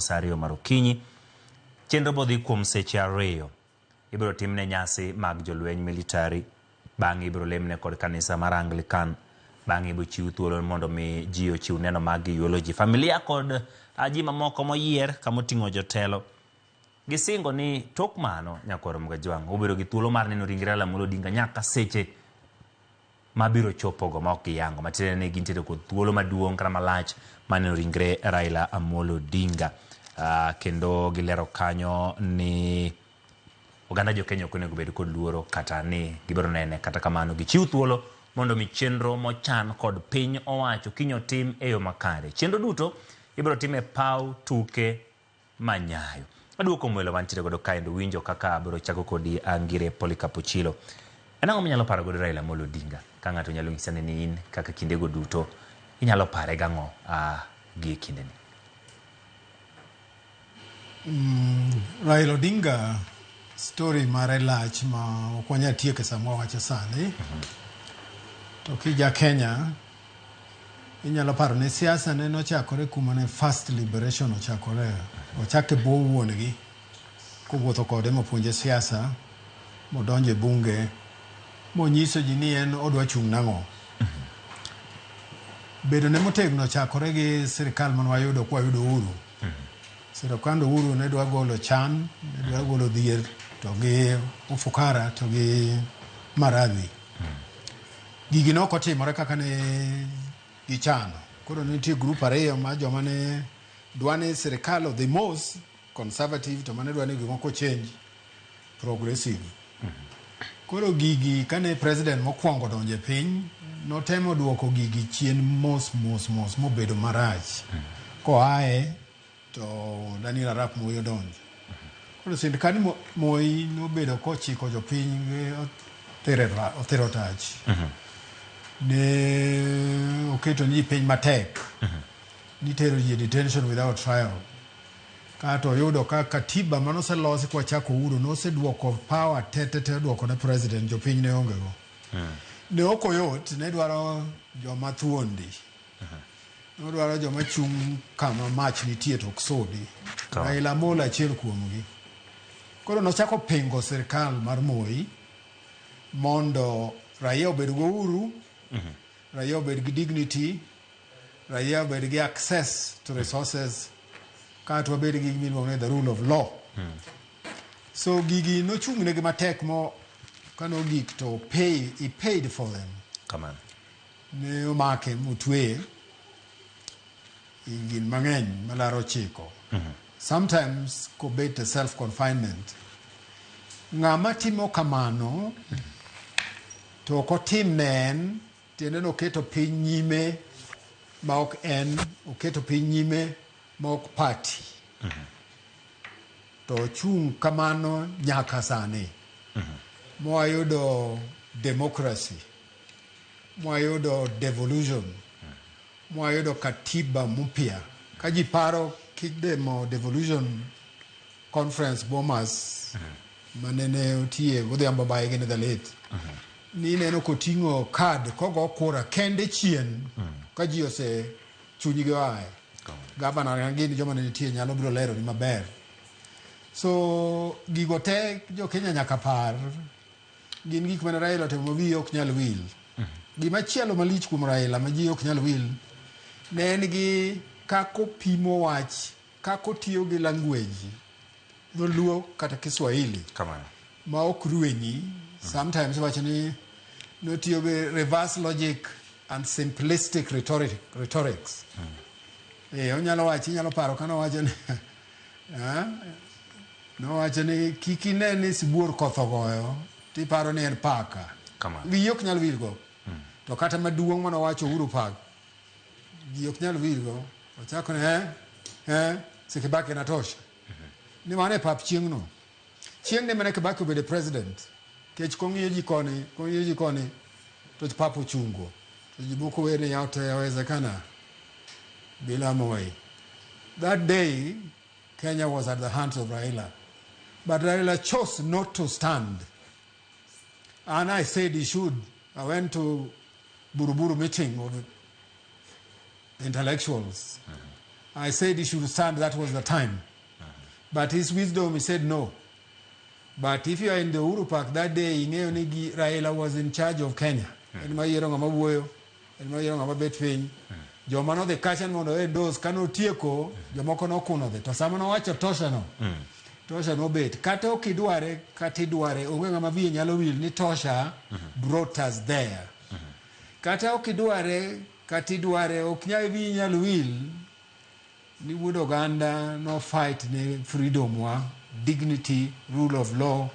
sa ariyo mar okinyi. Chenro bodhi kuom seche ariyo. Ibiro timne nyasi mag jolweny militari, bang'e ibiro lemne kod kanisa mar Anglican, bang'e ibiro chiw thuolo mondo mi ji ochiw neno mag eulogy. Familia kod ah, ji mamoko moyier kama oting'o jotelo gisingo ni tok mano nyakwarom Gajwang' obedo gi thuolo mar neno ringre Raila Amolo Odinga nyaka seche ma biro chopogo ma ok giyango matiende ni gintiere kod thuolo maduong' kata malach maneno ringre Raila Amolo Odinga uh, kendo gilero kanyo ni oganda jo Kenya ok onego bed kod luoro kata ni gibiro nene kata kamano gichiw thuolo mondo mi chenro mochan kod piny owacho kinyo tim e yo makare chenro duto ibiro tim e paw tuke Manyayo. Aduoko mwelo mantiere godo kaendo winjo kaka abiro chako kodi angire Polycarp Ochilo. En ang'o minyalo paro godo Raila Amolo Odinga? Ka ng'ato nyalo nyisa ni in kaka kindego duto inyalo pare gang'o a gie kindeni? Raila Odinga story mare lach ma ok wanyal tieke sama wawache sani. To kija Kenya Inyalo paro ni siasa ne nochakore kuma ne First Liberation ochakore. Ochak e bwo wuon-gi kowuotho kode mopuonje siasa, modonjo e bunge, monyiso ji ni en odwa chung' nang'o. Bedo ne motegno ochakore gi sirkal mane wayudo kwa yudo uhuru. Sirkand uhuru ne dwa golo chan, ne dwa golo dhier, to gi ufukara, to gi maradhi. Gigi ne ok otimore kaka ne gichano. Koro ne nitie grup ariyo ma joma ne dwa ni sirkal odhi mos, conservative, to mane dwa ni gimoko change, progressive. Koro gigi kane president mokwongo donjo e piny, notemo duoko gigi chien mos mos mos mobedo marach. Koaye to Daniel Arap Moi odonjo. Koro sirkand Mo- Moi nobedo kochiko jopiny gi otero ra- otero tach. Ne oketo ni piny matek. Nitero ji e detention without trial. Kato oyudo ka katiba mane oselosi kwa chako uru noseduoko power tete te oduoko ne president jopiny ne onge go. Ne ok oyot, ne dwaro joma thuondi. Odwaro joma chung' kama mach nitie to ok sudi. To. Raila Amolo achiel kuomgi. Koro nochako pingo sirkal mar Moi mondo raia obed go uhuru, raia obed gi dignity, raia obed gi access to resources, kaeto wabed gi gima iluongo ni the rule of law. So gigi nochung' negi matek mo kano gik to pay, he paid for them. Kamano. Ne omake motweye ingin mang'eny malaro ochiko sometimes kobet e self confinement ng'ama timo kamano to ok otim ne en tiende ni oketo piny nyime ma ok en oketo piny nyime ma ok party to ochung' kamano nyaka sani mwayudo democracy mwayudo devolution mwayudo katiba mupya ka ji paro kidemo devolution conference bomas manene otiye godhiambo baye gin the late nineno koting'o kad kogo kura kende chien ka ji ose chunygi oaye gavana na gin joma ne nitie nyalo biro lero ni maber so gigo te jokenya nyaka par Gin gik mane Raila otimo ma wiye ok nyal wil. Gima chielo malich kuom Raila ma ji ok nyal wil ne en gi kaka opimo wach, kaka otiyo gi language dholuo kata Kiswahili Kamano. ma ok ruenyi. Sometimes wacho ni notiyo gi reverse logic and simplistic rhetoric, rhetorics. Eh, onyalo wacho, inyalo paro kano wacho ni Eh? Nowacho ni kik ine ni sibuor koth ogoyo tiparo ni en paka. Kama. Wiyi ok nyal wilgo. To kata maduong' mane owacho Uhuru Park, ji ok nyal wilgo. Ochako ni eh, eh, Sekibaki natosha. Ni mano e pap chieng'no. Chieng ne mane Kibaki obedo president, kech kong'iyo ji koni, kong'iyo ji koni to pap ochungo. To ji buko wer ni yote yawezekana bila Moi. That day Kenya was at the hands of Raila. But Raila chose not to stand. And I said he should. I went to Buruburu meeting of intellectuals. Mm -hmm. I said he should stand, that was the time. Mm -hmm. But his wisdom, he said no. But if you are in the Uru Park that day, ing'eyo ni gi Raila was in charge of Kenya. Mm. En ma yiero ng'ama wuoyo, en ma yiero ng'ama bet piny. Mm. Joma nodhi kacha ni mondo e dos ka notieko, mm. jomoko nokuno dhi. To sama nowacho tosha no, mm. tosha nobet. Kata ok idware, kata idware, onge ng'ama wiye nyalo wil ni tosha mm -hmm. brought us there. Mm -hmm. Kata ok idware, Kata idware ok nyal wiyi nyal wil ni wuod oganda no fight ne freedom wa, dignity, rule of law,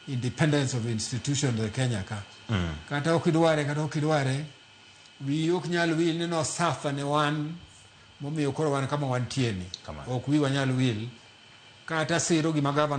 independence of institutions e Kenya ka. Mm. Kata ok idware kata ok idware wiyi ok nyal wil ni no suffer ne wan momiyo koro wan kama wantie ni. Ok wiwa nyal wil kata siro gima gavana